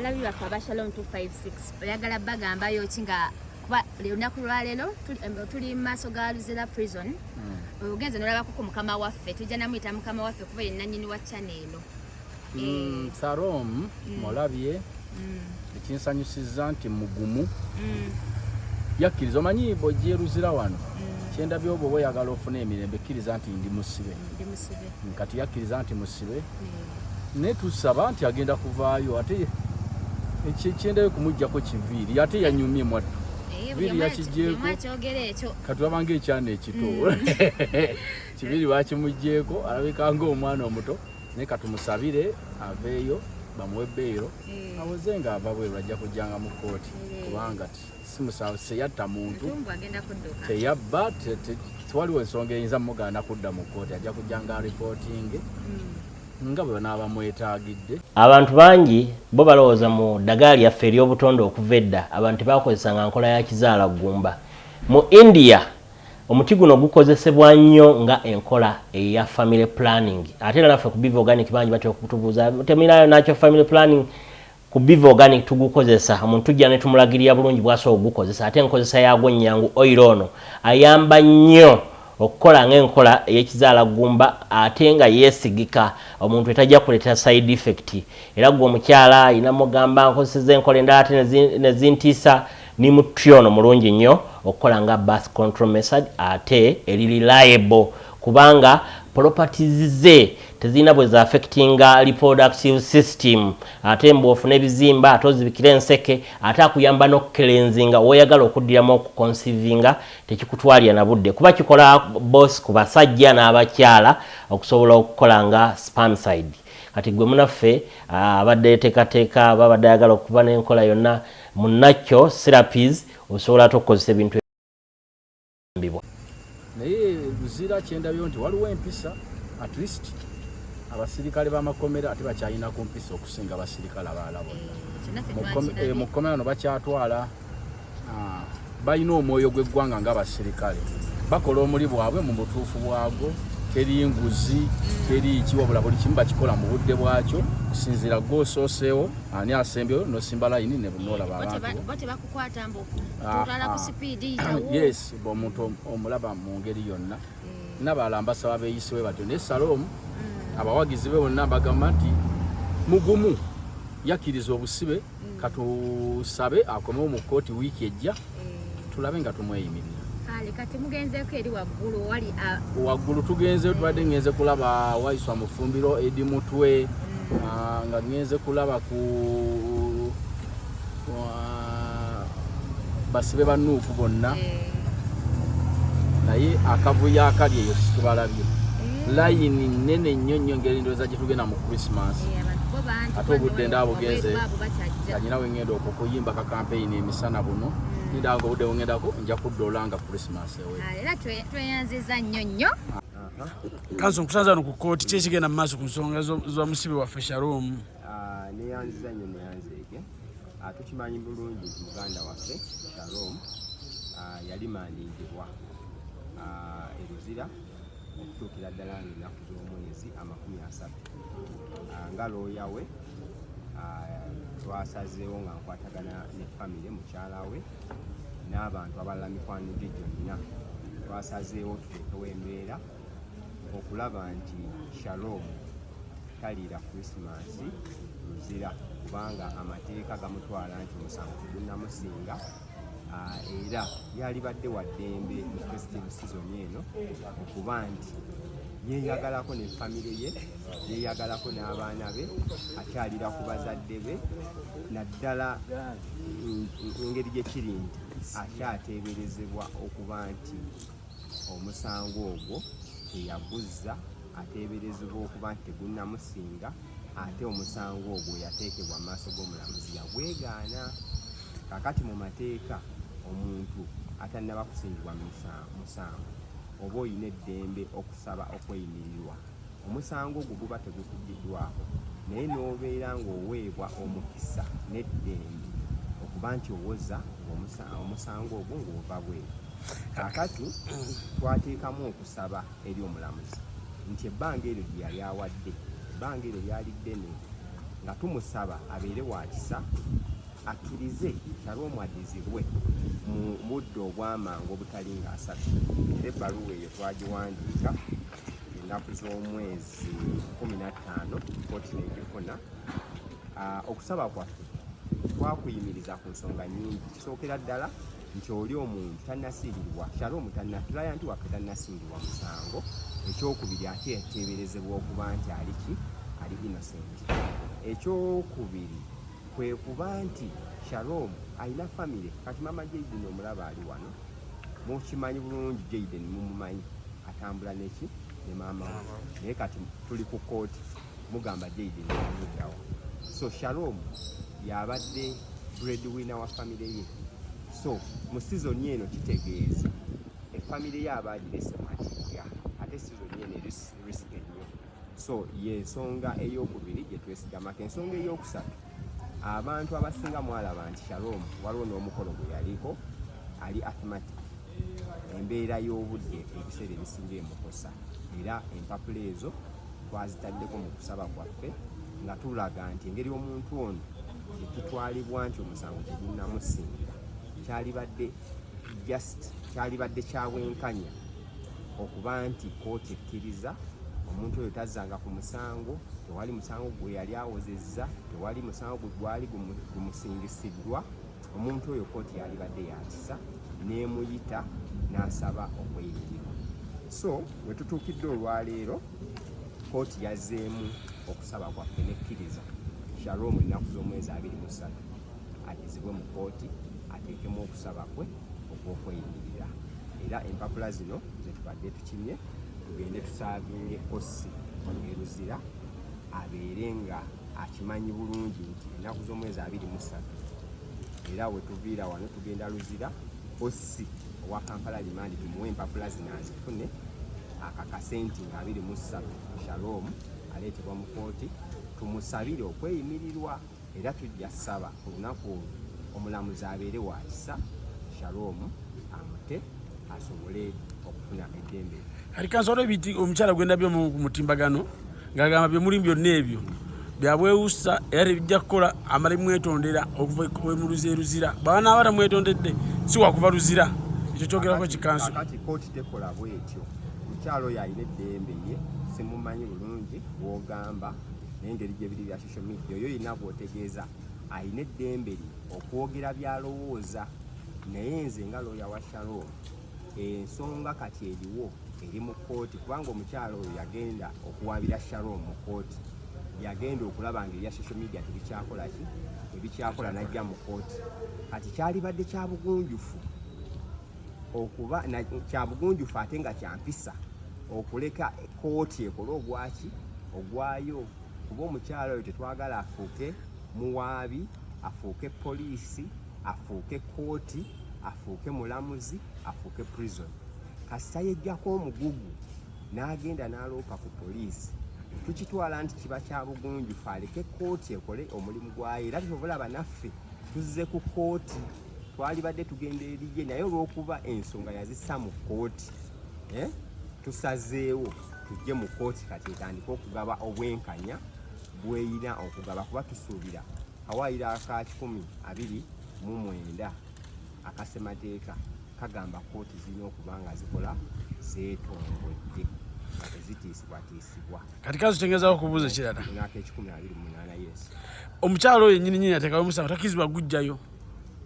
Alabi bafa ba Shalom 256 oyagala bagamba yo kinga kuba lunaku lwaleero tuli mu maaso ga Luzira prison hmm. ogenze nolabako ku mukama waffe tujja namuyita mukama waffe kuba ye nanyini wa chana eno hmm, eh. Sarom hmm. mulabye ekinsanyusizza nti mugumu yakkiriza omanyi bwojja eruzira wano kyendabye obwo bweyagala ofuna emirembe kkiriza nti ndi musibe kati yakkiriza nti musibe naye tusaba nti agenda kuvaayo ate ekyendayo kumugjako kiviiri ate yanyumye mwattu eh, viiri yakigyeko katulaba nga ekyana ekito mm. kiviiri bakimugyeko alabika nga omwana omuto naye katumusabire aveeyo bamuwe beyiro eh. awoze nga ava bweru ajja kujjanga mu kooti eh. kubanga ti simusango teyatta muntu teyabba tewaliwo ensonga eyinza mugaana kudda mu kkooti ajja kujja nga ripootinge hmm. nga bwe banaaba mwetaagidde abantu bangi bo balowooza mu ddagala lyaffe ery'obutonde okuva edda abantu tebakozesa nga nkola ya kizaala ggumba mu india omuti guno gukozesebwa nnyo nga enkola eya family planning ate era naffe ku biva organic bangi batera okutubuuza temirayo nakyo family planning Ku Biva Organic tugukozesa, omuntu tujja ne tumulagirira bulungi bw'asobola okugukozesa ate enkozesa yaagwo nnyangu. Oyiro ono ayamba nnyo okukola ng'enkola ey'ekizaala ggumba ate nga yeesigika omuntu etajja kuleetera side effect. Era ggwe omukyala alina mugamba nkozeseza enkola endala ate ne zintiisa nimu try ono mulungi nnyo okukola nga birth control method ate eri reliable kubanga properties ze tezirina bwe zaafekitinga reproductive system ate mbu ofuna ebizimba ate ozibikira enseke ate akuyamba n'okukelenzinga woyagala okuddiramu okukonsivinga tekikutwalira na budde kuba kikola bosi ku basajja n'abakyala okusobola okukola nga spamside kati gwe munaffe abadde yeteekateeka babadde ayagala okuba n'enkola yonna munnakyo serapis osobola ate okukozesa ebintu kuyambibwa. Naye Luzira kyendabyo nti waliwo empisa at least abasirikale b'amakomera ate bakyalina ku mpisa okusinga abasirikale abalala bonna eh, mu kkomera no bakyatwala ah, balina omwoyo gw'eggwanga ng'abasirikale bakola omuli bwabwe mu butuufu bwagwo teri nguzi teri ki wabula buli kimu bakikola mu budde bwakyo kusinziira gwosooseo ani asembyeyo nosimba layini nebunoola babantu okukwata mbu tutwala ku sipiidi yitawo yes omuntu omulaba mu ngeri yonna eh. nabalala mbasaba beeyisiwe batyo naye saloomu mm. abawagizi be bonna mbagamba nti mugumu yakkiriza obusibe mm. katusabe akomewo mu kkooti wiiki ejja eh. tulabe nga tumweyimirira kale kati mugenzeeko eri waggulu wali waggulu tugenzeyo tubadde ngenze kulaba waiswa mufumbiro edi mutwe mm. ah, nga ngenze kulaba ku ah, basibe banuuku bonna eh. naye akavuyo akali eyo situbalabye eh. layini nene nnyo nnyo ngeri ndowooza gye tugenda mu christmas eh, ate obudde ndaabugenze kanyina wengenda okukuyimba kakampeyini emisana buno mm. ndanga obudde bungedako nja kudda olanga christmas ewe ah, era tweyanziza nnyo nnyo kanso nkusanza no ku kooti ki ekigenda mu maaso ku nsonga za musibe waffe shalom ah, neyanziza nnyo neyanzeege ah, tukimanyi bulungi nti muganda waffe shalom yali mandingibwa eruzira okutuukira ddala nga ennaku z'omwezi amakumi asatu ah, nga looya we ah, twasazeewo nga nkwatagana ne famire mukyala we n'abantu abalala mikwano gye gyonna twasazeewo tuteekewo embeera okulaba nti shalom taliira krisimansi muzira kubanga amateeka gamutwala nti omusango tegunamusinga ah, era yalibadde wa ddembe mu festive sizoni eno okuba nti yeyagalako ne famire ye yeyagalako n'abaana be akyalira ku bazadde be naddala engeri gye kiri nti akyateeberezebwa okuba nti omusango ogwo teyaguzza ateeberezebwa okuba nti tegunnamusinga ate omusango ogwo yateekebwa mu maaso g'omulamuzi yagwegaana kakati mu mateeka omuntu atannaba kusingibwa musango oba olina eddembe okusaba okweyimirirwa omusango ogwo guba tegukugiddwako naye n'obeera ng'oweebwa omukisa n'eddembe okuba nti owoza omusango ogwo ng'ova bweru kakati twateekamu okusaba eri omulamuzi nti ebbanga eryo gye yali awadde ebbanga eryo lyali ddene nga tumusaba abeere wa kisa akkirize nalwo mwadizibwe mu budde obwamangu obutalinga asatu era ebbaluwa eyo twagiwandiika ennaku z'omwezi kumi na ttaano kooti negifuna ah, okusaba kwaffe twakuyimiriza ku nsonga nyingi kisookera ddala nti oli omuntu tannasiirirwa kyalo omutanna tulaya nti waffe tannasiirirwa musango ekyokubiri ate yateeberezebwa okuba nti aliki ali innocent ekyokubiri kwe kuba nti Shalom alina famire kati mama Jaden omulaba ali wano mukimanyi bulungi Jaden mumumanyi atambula neki ne maama naye kati tuli ku kooti mugamba Jaden amuddawa so Shalom yabadde breadwinner wa famire ye so mu sizoni eno kitegeeza efamire ye abaagirese matiga ate sizoni eno eri risike nnyo so yensonga eyokubiri gyetwesigamako ensonga eyokusatu abantu abasinga mwalaba nti shalom waliwo n'omukolo gwe yaliko ali athmatic embeera y'obudde ebiseera ebisinga emukosa era empapula ezo twazitaddeko mu kusaba kwaffe nga tulaga nti engeri omuntu ono etutwalibwa nti omusango tegunnamusingira kyalibadde just kyalibadde kyabwenkanya okuba nti kooti ekkiriza omuntu oyo tazzanga ku musango tewali musango gwe yali awozezza tewali musango gwe gwali gumusingisiddwa omuntu oyo kooti yalibadde yakisa n'emuyita n'asaba okweyingirwa so we tutuukidde olwaleero kooti yazzeemu okusaba kwaffe nekkiriza shalom ennaku z'omwezi abiri mu ssatu addizibwe mu kkooti ateekemu okusaba kwe okw'okweyimirira era empapula zino zetubadde tukimye tugende tusaavinge kossi eruzira abeere nga akimanyi bulungi nti ennaku z'omwezi abiri mu ssatu era wetuviira wano tugenda luzira kossi owa kampala limandi tumuwe empapula zino azifune akakase nti nga abiri mu ssatu shalom aleetebwa mu kooti tumusabire okweyimirirwa era tujja saba olunaku olwo omulamuzi abeere wa kisa shalom amute asobole okufuna eddembe kati kansolo ebiti omukyala gwendabye mu mutimbagano ngagamba byemulimu byonna ebyo byabwewusa era tebijja kukola amale mwetondera okuvaemuluzi eruzira baba naaba tamwetondedde si wakuva luzira ekyo kyogerako kikanso kati kooti tekola bwetyo omukyala oyo alina eddembe ye simumanyi bulungi wogamba nengeri gyebiri social media oyo yina gwotegeeza alina eddembe lye okwogera byalowooza naye nze nga looya wa shalom ensonga kati eriwo eri mu kkooti kubanga omukyalo oyo yagenda okuwaabira shalom mu kkooti yagenda okulaba nga ebya social media tebikyakola ki ebikyakola najja mu kkooti kati kyalibadde kya bugunjufu okuba kya bugunjufu ate nga kyampisa okuleka kkooti ekole ogwaki ogwayo kuba omukyala oyo tetwagala afuuke muwaabi afuuke poliisi afuuke kooti afuuke mulamuzi afuuke prison kasita yejjako omugugu n'agenda n'aloopa ku poliisi tukitwala nti kiba kya bugunjufu aleke kooti ekole omulimu gwayo era tobulaba naffe tuzze ku kooti twalibadde tugenda eriye naye olw'okuba ensonga yazissa mu kooti eh, tusazeewo tujje mu kooti kati etandike okugaba obwenkanya bweyina okugaba kuba tusuubira kawaayiro aka kikumi abiri mu mwenda akasemateeka kagamba kooti zirina okuba nga zikola zeetongodde nga tezitiisibwatiisibwa kati kazitengezawo okubuuza ekirala naaka ekikumi abiri munaana yes omukyalo oyo nyini nyini ateekawo omusango takkirizibwa gujjayo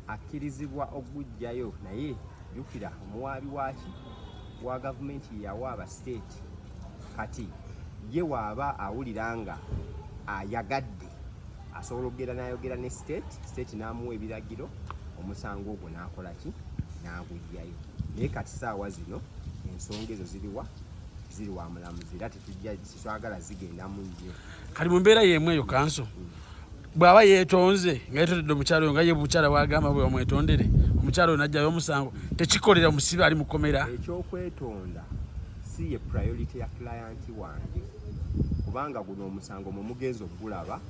akkirizibwa okugujjayo naye jukira omuwaabi waaki wa gavumenti yeyawaaba state kati ye waaba awulira nga ayagadde asobola okugera nayogera ne state state namuwa ebiragiro omusango ogwo nakola ki nagujjayo naye kati saawa zino ensonga ezo ziriwa ziri wa mulamuzi era tetujja tetwagala zigenda mu nnyo kali mu mbeera yemu eyo kanso mm. bw'aba yeetonze nga yeetondedde omukyala oyo nga ye mukyala wagamba bwe bamwetondere omukyala oyo najjayo omusango tekikolera musibe ali mukomera ekyokwetonda si ye priority ya kilayanti wange kubanga guno omusango mwe mugenza okugulaba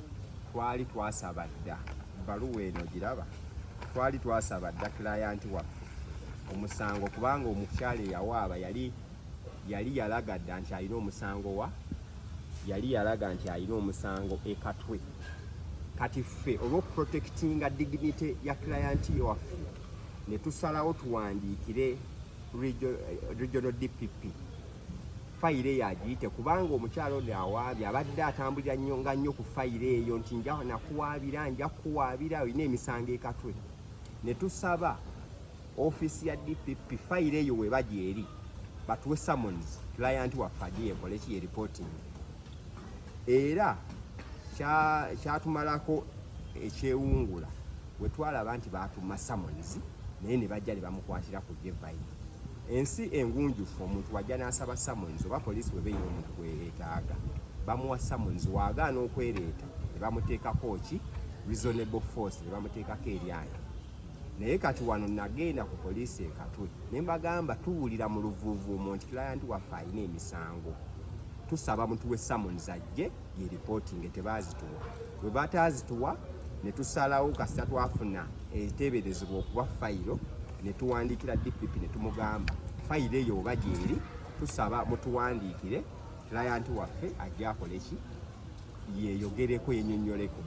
twali twasaba dda baluwa eno giraba twali twasaba dda kilayanti waffe omusango kubanga omukyala eyawaaba yali yali yalaga dda nti alina omusango wa yali yalaga nti alina omusango ekatwe kati ffe olwokuprotectinga dignity ya client waffe netusalawo tuwandiikire regional dpp fayiro eyo agiyite kubanga omukyalo ono awaabye abadde atambulira nnyo nga nnyo ku fayiro eyo nti nja nakuwaabira nja kukuwaabira olina emisango ekatwe ne tusaba ofiisi ya dpp fayiro eyo weba gyeri batuwe summons client waffe agiye ekole ki yereporting era kyatumalako ekyewungula wetwalaba nti batuma summons naye ne bajja ne bamukwatira ku gevayi ensi engunjufu omuntu wajja n'asaba summons oba poliisi webeera omuntu gweyetaaga bamuwa summons waagaana okwereeta ne bamuteekako ki reasonable force ne bamuteekako eryange naye kati wano nagenda ku poliisi ekatwe ne mbagamba tuwulira mu luvuuvuumo nti kilayanti waffe alina emisango tusaba mutuwe summons ajje ye reporting tebazituwa bwe bataazituwa ne tusalawo kasita twafuna eteeberezebwa okuba fayiro ne tuwandiikira dpp ne tumugamba fayiro eyo oba gyeri tusaba mutuwandiikire kilayanti waffe ajja akole ki yeyogereko yenyonyoleko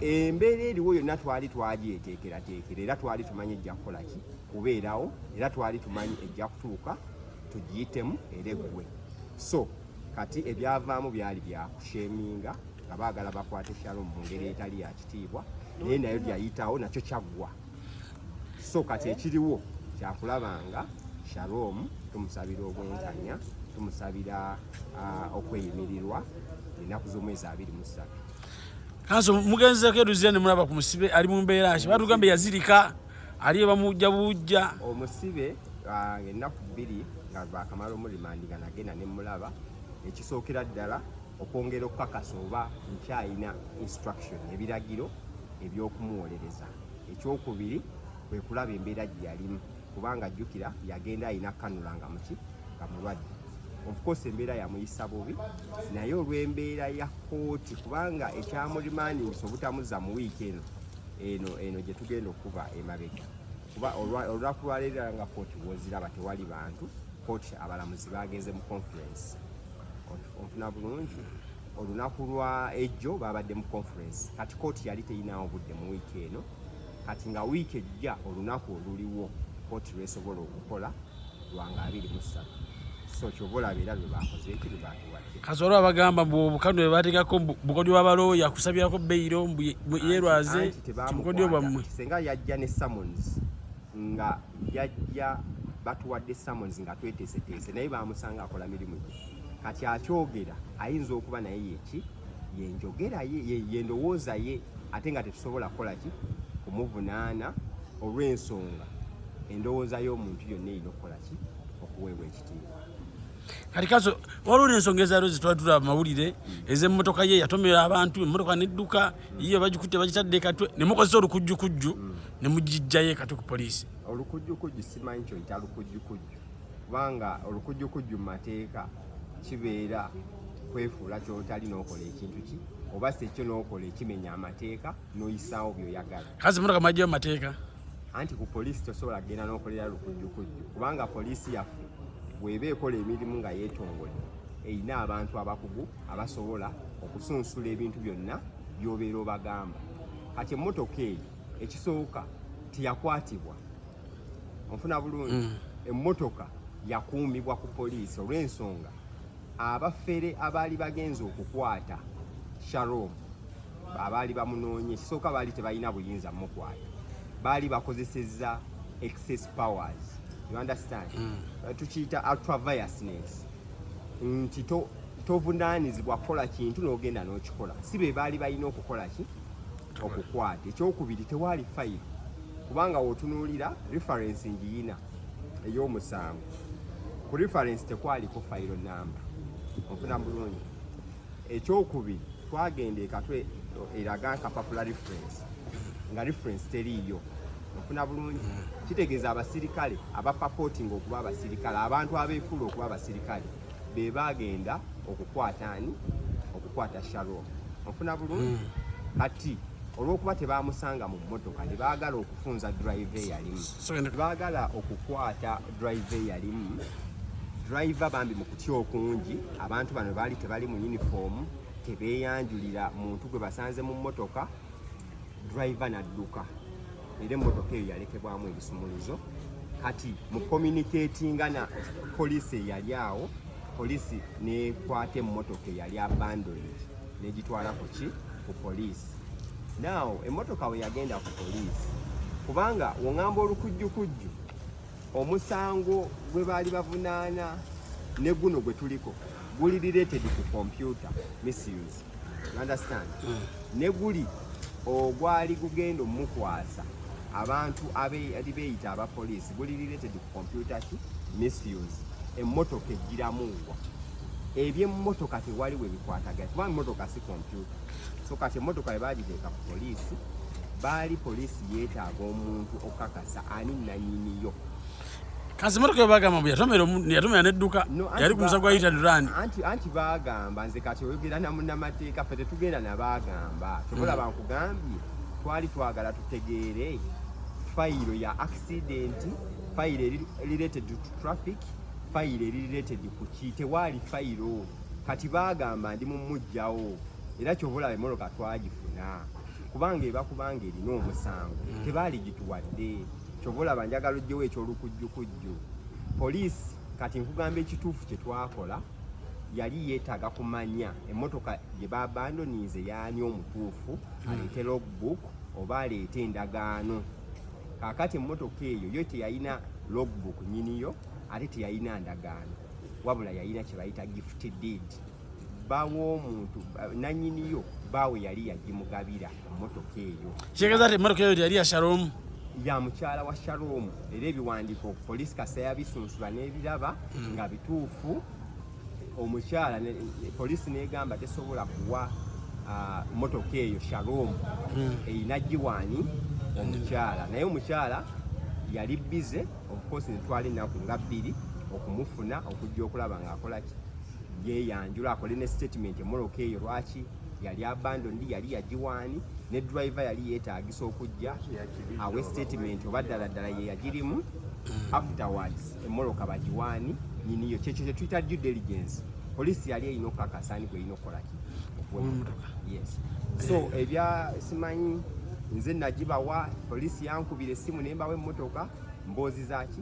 embeera eriwo yonna twali twagyeteekerateekera era twali tumanyi ejja kukola ki kubeerawo era twali tumanyi ejja kutuuka tugiyitemu era eggwe so kati ebyavaamu byali byakusheminga nga baagala bakwate shalom mu ngeri etali ya kitiibwa naye nayo byayitawo nakyo kyaggwa so kati ekiriwo kyakulabanga shalom tumusabira obwenkanya tumusabira ah, okweyimirirwa enaku z'omwezi abiri mu ssatu kanso mugenzeko eruzira ne mulaba ku musibe ali mu mbeera ki batugamba yazirika ali ebamujja bujja omusibe ah, ennaku bbiri nga bakamala omulimandi nga nagenda ne mulaba ekisookera ddala okwongera okukakasa oba nkyayina instruction ebiragiro ebyokumuwolereza ekyokubiri kwe kulaba embeera gye yalimu kubanga jjukira yagenda alina kanula nga muki nga mulwadde ofcourse embeera yamuyisa bubi naye olw'embeera ya kooti kubanga ekyamurimandingisa obutamuzza mu wiiki eno eno eno gye tugenda okuba emabega kuba olunaku lwaleero nga kooti woziraba tewali bantu kooti abalamuzi bagenze mu conference onfuna bulungi olunaku lwa ejjo babadde mu conference kati kooti yali teyinawo budde mu wiiki eno kati nga wiiki ejja olunaku oluliwo kooti lwesobola okukola lwanga abiri mu ssatu so kyova olaba era lwe bakoze eki lwe batuwadde kasoolo abagamba mbu obukano bwe bateekako bukodyo bwa balooya kusabirako beyiro mbu yerwaze kibukodyo bwammwe senga yajja ne summons nga yajja batuwadde summons nga tweteeseteese naye bamusanga akola mirimu gye kati akyogera ayinza okuba naye yeki yenjogera ye yendowooza ye ate nga tetusobola kukola ki kumuvunaana olw'ensonga endowooza y'omuntu yonna erina okukola ki okuweebwa ekitiibwa kati kaso waliwo n'ensonga ezaaliwo zetwali tulaba mawulire ez'emmotoka ye yatomera abantu emmotoka nedduka iyo bagikutte bagitadde katwe ne mukozesa olukujjukujju mm. ne mugijjayo katwe ku poliisi olukujjukujju simanyi kyoyita lukujjukujju kubanga olukujjukujju mu mateeka kibeera kwefuula kyotali n'okola ekintu ki oba si ekyo n'okola ekimenya amateeka n'oyisaawo by'oyagala kazi muno kamajjayo mu mateeka anti ku poliisi tosobola kugenda n'okolera lukujjukujju kubanga poliisi yaffe bweba ekola emirimu nga yetongodde erina abantu abakugu abasobola okusunsula ebintu byonna byobeera obagamba kati emmotoka eyo ekisooka teyakwatibwa onfuna bulungi mm. emmotoka yakuumibwa ku poliisi olw'ensonga abafere abaali bagenze okukwata sharom abaali bamunoonye kisooka baali tebalina buyinza mukwata baali bakozeseza excess powers you understand mm. Uh, tukiyita ultraviusness nti tovunaanizibwa kukola kintu n'ogenda n'okikola si be baali balina okukola ki okukwata ekyokubiri tewaali fayiro kubanga wotunuulira reference ngiyina ey'omusango ku reference tekwaliko fayiro namba ofuna bulungi ekyokubiri twagenda ekatwe eraga nkapapula reference nga reference teriiyo ofuna bulungi kitegeeza abasirikale abapapotinga okuba abasirikale abantu abeefuula okuba abasirikale be bagenda okukwata ani okukwata sharon ofuna bulungi hmm. kati olwokuba tebamusanga mu mmotoka ne baagala okufunza drive eyalimu baagala okukwata drive eyalimu driver bambi mu kutya okungi abantu bano baali tebali mu uniform tebeeyanjulira muntu gwe basanze mu mmotoka driver nadduka era emmotoka eyo yalekebwamu ebisumuluzo kati mu communicatinga na poliisi eyali awo poliisi nekwata emmotoka eyali abandoned negitwala ku ki ku poliisi now emmotoka we yagenda ku poliisi kubanga wongamba olukujjukujju omusango gwe baali bavunaana ne guno gwe tuliko guli related ku computer misuse you understand mm. ne guli ogwali gugenda omukwasa abantu abali beyita aba police guli related ku computer ki misuse emmotoka ejjiramuwa ebyemmotoka tewali we bikwatagana kubanga emmotoka si kompyuta so kati emmotoka bwe bagiteeka ku poliisi baali poliisi yeetaaga omuntu okukakasa ani nanyiniyo kazi motoka bagamba mbu yatomera yatomera nedduka yali ku musago ayita durani anti anti bagamba nze kati oyogera na munnamateeka ffe tetugenda nabagamba tobola hmm. bankugambye twali twagala tutegeere fayiro ya accident fayiro eri related to traffic fayiro eri related ku ki tewaali fayiro kati bagamba ndi mumujjawo era kyobola emoloka twagifuna kubanga eba kubanga erina omusango mm. tebaali gituwadde kyova olaba njagala ojjewo ekyolukujjukujju poliisi kati nkugamba ekituufu kye twakola yali yeetaaga kumanya emmotoka gye babandonize yaani omutuufu mm. aleete logbook oba aleete endagaano kakati emmotoka eyo yo teyalina logbook nyiniyo ate teyalina ndagaano wabula yalina kye bayita gift deed baw'omuntu nanyiniyo baawe yali yagimugabira emmotoka eyo kitegeeza ti emmotoka eyo yali ya shalom ya mukyala wa shalom era ebiwandiiko poliisi kasa yabisunsula n'ebiraba hmm. nga bituufu omukyala poliisi n'egamba tesobola kuwa mmotoka eyo shalom hmm. erina giwaani omukyala naye omukyala yali bize of course netwala ennaku nga bbiri okumufuna okujja okulaba ng'akola ki yeyanjula akole ne statement emoloka eyo lwaki yali abandoned yali yagiwaani ne driver yali yeetagisa okujja awe statement oba ddala ddala ye yagirimu mm. afterwards emoloka bagiwaani nyiniyo kyekyo kyetuyita due diligence poliisi yali erina okukakasa ani gweyina okukolaki yes so ebya simanyi nze nagibawa poliisi yankubira essimu nembawa emmotoka mboozi zaki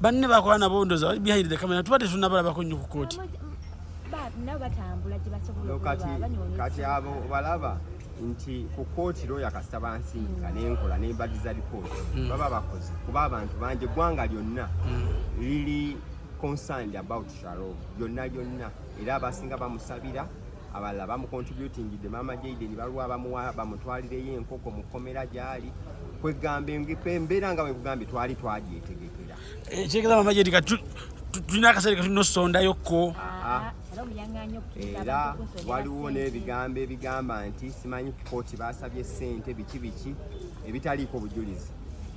banne bakola nabo ndoza behind the camera tuba tetunabalabako nnyo ku kooti kati abo balaba nti ku kooti looya kasita bansindika mm. nenkola nembadiza lipooti mm. baba bakozi kuba abantu bangi eggwanga lyonna mm. liri concerned about sharo lyonna lyonna era abasinga bamusabira abalala bamukontributingidde maama jaiden baliwo abamuwa bamutwalireyo enkoko mu kkomera gyali kwegamba embeera nga wekugambye twali twagyetegekera ekyegeza maama jaidi ka tulina akaseera katulina osondayokko ah, era waliwo n'ebigambo ebigamba nti simanyi kooti basabye ssente biki biki ebitaliiko bujulizi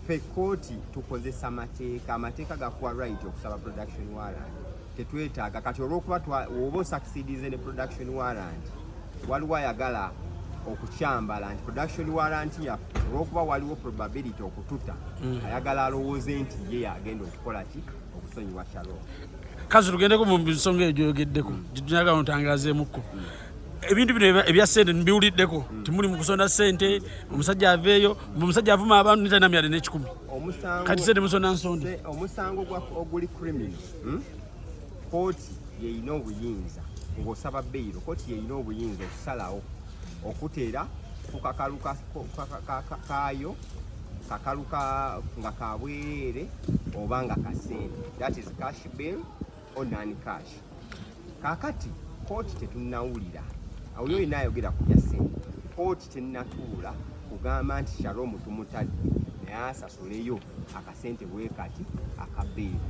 fe kooti tukozesa mateeka amateeka gakuwa right okusaba production warrant tetwetaaga kati olwokuba oba osakisidize ne production warrant waliwo ayagala okukyambala nti production warrant yaffe olwokuba waliwo probability okututa mm. ayagala alowooze nti ye yagenda okukola ki okusonyiwa shalo kazi tugendeko mu nsonga eyo gyoyogeddeko mm. gyetunyaga notangazeemukko mm. ebintu bino ebya sente mbiwuliddeko timuli mukusonda sente omusajja aveeyo omusajja avuma abantu nitanamyade nekikumi kati sente musonda nsonda omusango oguli criminal hmm? kooti yeyina obuyinza ng'osaba beyiro kooti yeyina obuyinza okusalawo okuteera ku kakalu kaayo kakalu nga kabwereere oba nga kasente that is cash bill or non cash kakati kooti tetunawulira awulira olina ayogera ku bya sente kooti tenatuula kugamba nti shalomu tumutadde naye asasuleyo akasente bwekati akabeera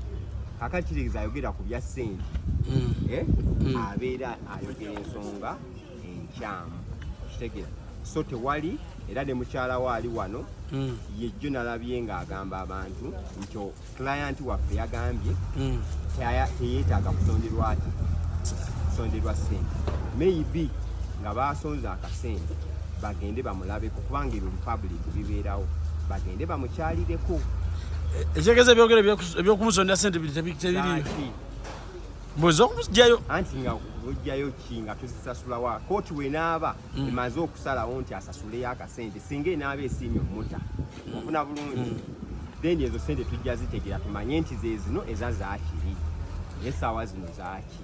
kakati kitegeeza ayogera ku bya sente mm. eh? mm. abeera ayogera ensonga enkyamu kitegeeza so tewali era ne mukyala we ali wano mm. yejjo nalabye ng'agamba abantu nti client waffe yagambye teyeetaaga kusonderwaki kusonderwa sente maybe nga baasonze akasente bagende bamulabeko kubanga ebyo republic bibeerawo bagende bamukyalireko ekyegeza ebyogero ebyokumusondera sente biri tebiriyo mboza okujayo anti nga ojjayo ki nga tuzisasulawa kooti wenaaba mm. emaze okusalawo nti asasuleyo akasente singa enaaba esiimye omuta mm. ofuna bulungi mm. then ezo sente tujja zitegera tumanye nti zezino eza zakiri esaawa zino zaki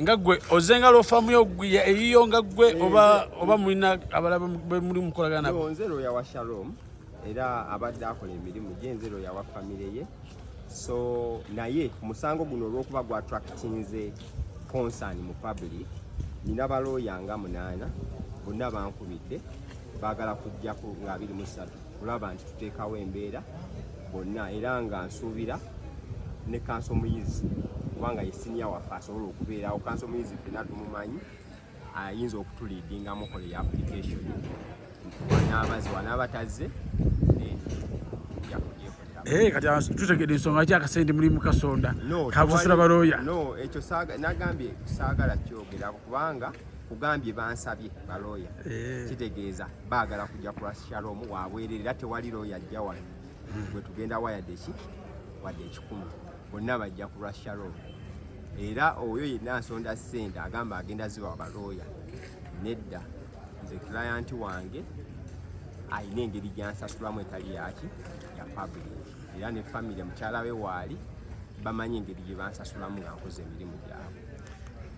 nga gwe oze nga lofamu yo eyiyo nga gwe oba oba mulina abala bemuli mukolagana nabo nze loya wa shalom era abadde akola emirimu gye nze loya wa famire ye so naye musango guno olwokuba gwa tractinze concern mu public nina balooya nga munaana bonna bankubidde baagala kujjako nga abiri mu ssatu kulaba nti tuteekawo embeera bonna era nga nsuubira ne kanso omuyizi kubanga ye siniya waffe asobola okubeerawo kanso omuyizi fena tumumanyi ayinza okutuliidinga mukola ya application wanaabazi wanaaba tazze eh, kati tutegede ensonga ki akasente mulimu kasonda kabusasula balooya no ekyo nagambye saagala kyogerako kubanga kugambye bansabye balooya eh. kitegeeza baagala kujja ku lwashalom wabwerere era tewali looya ajja wano hmm. gwe tugenda wayadde ki wadde ekikumi bonna bajja ku lwashalom era oyo yenna nsonda sente agamba agenda ziba balooya nedda nze kilayanti wange alina engeri gyansasulamu etali yaki ya public era ne famire mukyala we waali bamanyi engeri gye bansasulamu nga nkoze emirimu gyabwe